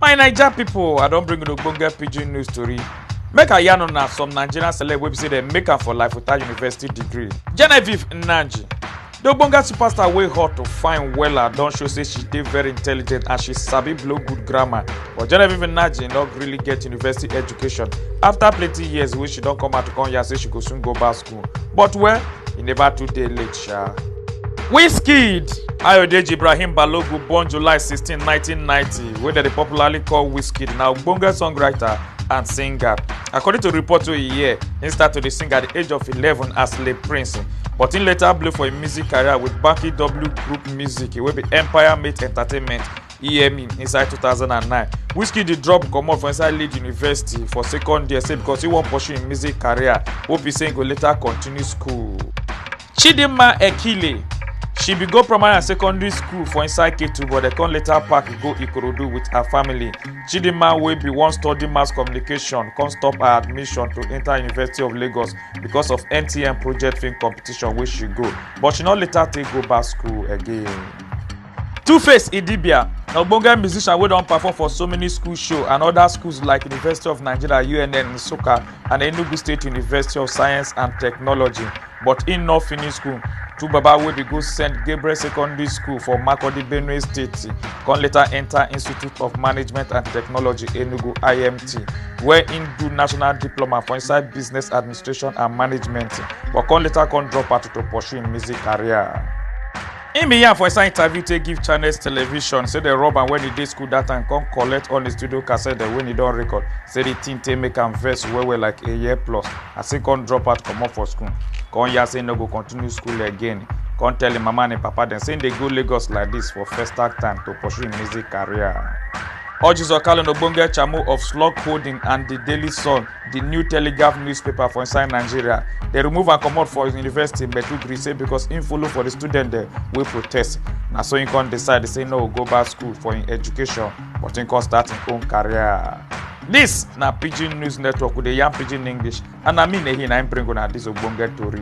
my naija pipo i don bring una ogbonge pidgin news tori make i yarn una some nigerian celeb wey be say dem make am for life without university degree genevieve nnaji di ogbonge superstar wey hot to fine wella don show say she dey very intelligent and she sabi blow good grammar but genevieve nnaji no really get university education afta plenty years wey she don come out to come yarn say she go soon go back school but well e never too dey late sha. wizkid ayodeji ibrahim balogun born july 16 1990 wey dem dey popularly call wizkid na ogbonge songwriter and singer according to report wey e hear im start to dey sing at di age of 11 as le prince but im later blow for im music career wit banky w group music wey be empire mate entertainment emi inside 2009 wizkid dey drop comot for inside lead university for second year say because he wan pursue im music career wey be say he go later continue school. chidinma ekile she bin go primary and secondary school for inside ketu but dem come later pack go ikorodu with her family chidinma wey bin wan study mass communication come stop her admission to enter university of lagos because of mtn project film competition wey she go but she no later take go back school again. Tuface Idibia, na ogbonge musician wey don perform for so many school show and other schools like University of Nigeria, UNN, Nsukka and Enugu State University of Science and Technology but im no finish school. Two baba wey dey go St. Gabriel Secondary School for Makurdi, Benue State come later enter Institute of Management and Technology, Enugu, IMT where im do national diploma for inside business administration and management but come later come drop out to pursue im music career. im bin yarn for inside interview take give channels television say dem rob am wen e dey school dat time come collect all im studio cassette dem wey e don record say di tin take make am vex well well like a year plus as im come drop out comot for school come yarn say im no go continue school again come tell im mama and im papa dem say im dey go lagos like dis for festac time to pursue im music career. Ojizo Kalu na ogbonge chairmo of Slug Holding and The Daily Sun. di new telegraph newspaper for inside nigeria dem remove am comot for university maiduguri say because im follow for di student dem wey protest na so im come decide say no go back school for im education but im come start im own career. dis na pidgin news network we dey yarn pidgin english and na me nehi na im bring una dis ogbonge tori.